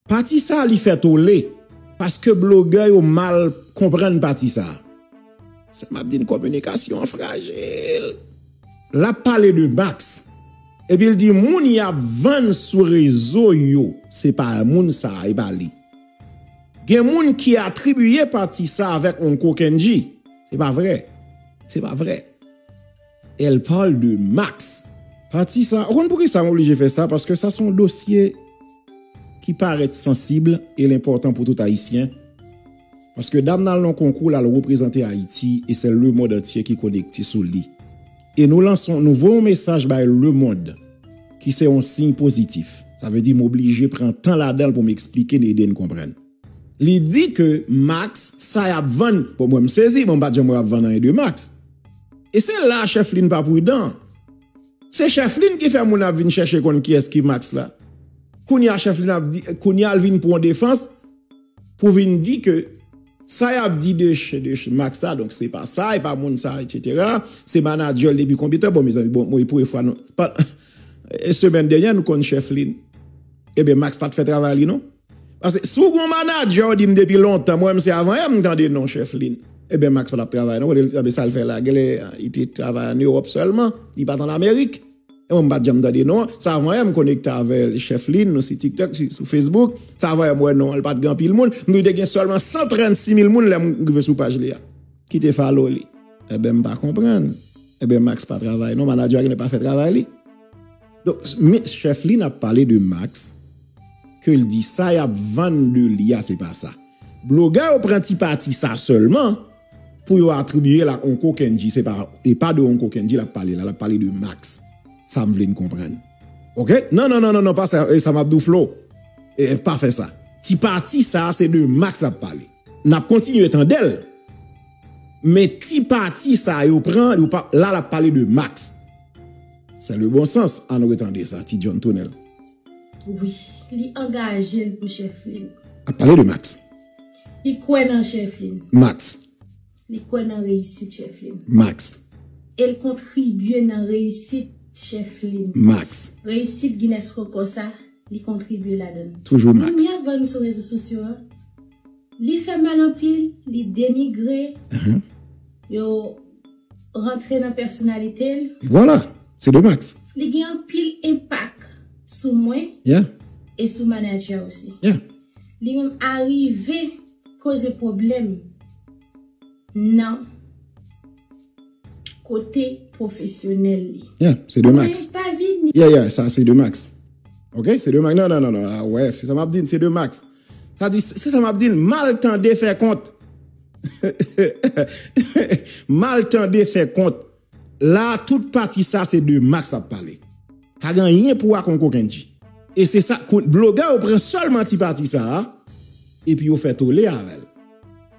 Pati sa li fè tole paske blogè yo mal konprann pati sa. Sa map di n kominikasyon an frajil. Lap pale de Max epi l di moun yap vann sou rezo yo se pa moun sa e pa li. Gen moun ki atribiye pati sa avèk Uncle Kendji. Se pa vrè. Se pa vrè. Elle parle de Max pati sa ou konn poukisa m oblije fè sa paske sa son dosye ki parèt sansib e l enpòtan pou tout ayisyen paske dam nan al nan konkou l al reprezante ayiti e se lemond antye ki konekte sou li e nou lanson nou voye yon mesaj bay lemond ki se yon siy pozitif sa vle di m oblije pran tan ladan l pou m esplike n ede n konprann. Li di ke max sa yap vann bon mwen m sezi bon m pat janm wè yap vann anyen de max e se la chefline pa prudan se chefline ki fè moun ap vin chèche konn kiyès ki max la kounya chefline ap di kounya l vin pwan defans pou vin di ke sa yap di de max la donk se pa sa e pa moun sa etc se manager l depi konbyen tan bon mezanmi bon mwen premye fwa nou semen denyè nou konn chefline ebyen max pat fè travay li non. Pase si w gon manager w di m depi lontan m wè m se avan yè m tande non chèf Lynn ebyen Max patap travay non kote l anben sa l fè la genlè li te travay an Europe sèlman li pat an Amerique e mwen m pat janm tande non an sa avan yè m konekte avè l chèf Lynn nou si tiktok sou Facebook sa avan yè m wè non an l pat gen anpil moun m di w te gen sèlman 136 mil moun lè m rive sou paj li a ki te follow li ebyen m pa konprann ebyen Max pa travay non manager a genlè pa fè travay li. Donk men chèf li nap pale de Max ke l di sa yap vann de li a se pa sa. Blogè yo pran ti pati sa sèlman pou yo atribiye l ak Onko Kendji se pa e pa de Onko Kendji lap pale la lap pale de Max sa m vle n konprann ok nan nan nan pa sa e sa map di w Flo e pa fè sa ti pati sa se de Max lap pale nap kontinye tande l men ti pati sa yo pran yo pa la lap pale de Max. Sa le bon sans ann retande sa ti John Tonel. Wi li angaje l pou chèflin. Ap pale de Max. Li kwè nan chèflin. Max. Li kwè nan reyisit chèflin. Max. E l kontribye nan reyisit chèflin. Max. Reyisit Guinness rekò sa li kontribye ladan l. Toujou Max. Moun li ap vann sou rezo sosyo a li fè mal anpil li denigre yo. rantre nan pèsonalite l. Vwala! Se de Max. Li gen anpil enpak sou mwen e sou manadjè osi. Li menm arive koze pwoblèm nan kote pwofesyonèl li. Ya, se de Max. Mwen pa vini. Ya, ya, sa se de Max. Ok, se de Max. Non, non, non, non. Awè, se sa m ap di n, se de Max. Sa di, se sa map di l, mal tande fè kont. Mal tande fè kont. La tout pati sa se de Max lap pale. Pa gen anyen pou wa kon Kokendji. E se sa, blogè yo pran sèlman ti pati sa a, epi yo fè tole avè l.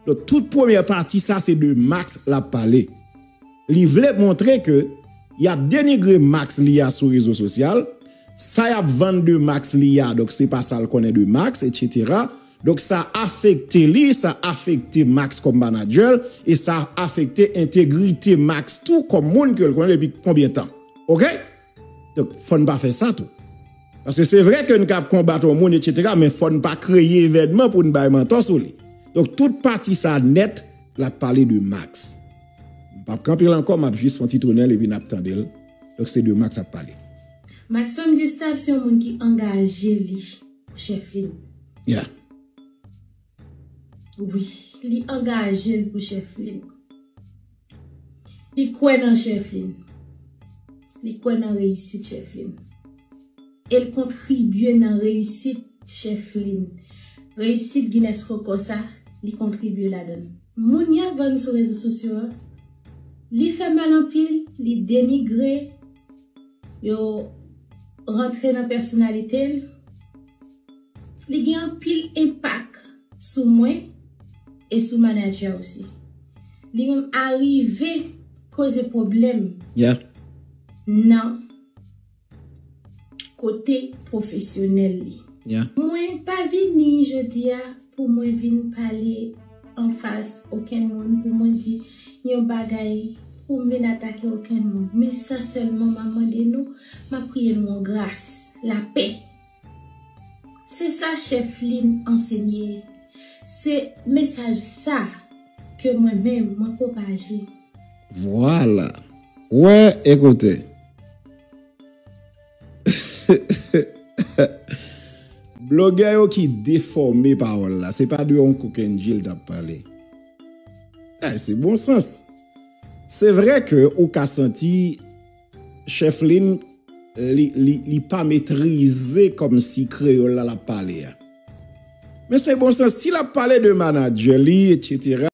Donk tout premyè pati sa se de Max lap pale. Li vle montre ke yap denigre max li a sou rezo sosyal, sa yap vann de max li a donk se pa sal konnen de max etc. Donk sa afekte li, sa afekte max kom manadjèl e sa afekte entegrite max tou kom moun kel konnen depi konbyen tan. Ok! Donk fò n pa fè sa tou. Paske se vre ke n kab konbat yon moun etsetera men fò n pa kreye evènman pou n bay mantò sou li. Donk tout pati sa nèt l ap pale de Max. M p ap kanpe l ankò m ap jis fon ti tounen l epi n ap tande l. Donk se de Max ap pale. Maxson Gustave se yon moun ki angaje li pou chèf li. Yeah. Wi, li angaje l pou chèf li. Li kwè nan chèf li. Li kwè nan reyisit chèf li. E l kontribye nan reyisit chèf li. Reyisit Guinness Record sa, li kontribye ladan l. Moun y ap vann sou rezo sosyo a, li fè mal anpil, li denigre, yo rantre nan pèsonalite l. Li gen anpil enpak sou mwen e sou manager osi. Li menm arive koze pwoblèm nan kote pwofesyonèl li. Mwen pa vini jodi a pou mwen vin pale anfas okenn moun pou mwen di yon bagay, pou m vin atake okenn moun. Men sa sèlman m ap mande nou, m ap priye nou an gras, lapè. Se sa chef lin ansenye. Se mesaj sa ke mwen menm mwen pwopaje. Vwala! Wè e koute! Blogè yo ki defòme pawòl la, se pa de yon kokenndji l t ap pale. Bagay se bon sans. Se vre ke ou ka santi. Chef Lynn li pa metrize komsi kreyol la lap pale a. Men se bon sans si lap pale de manager li etc.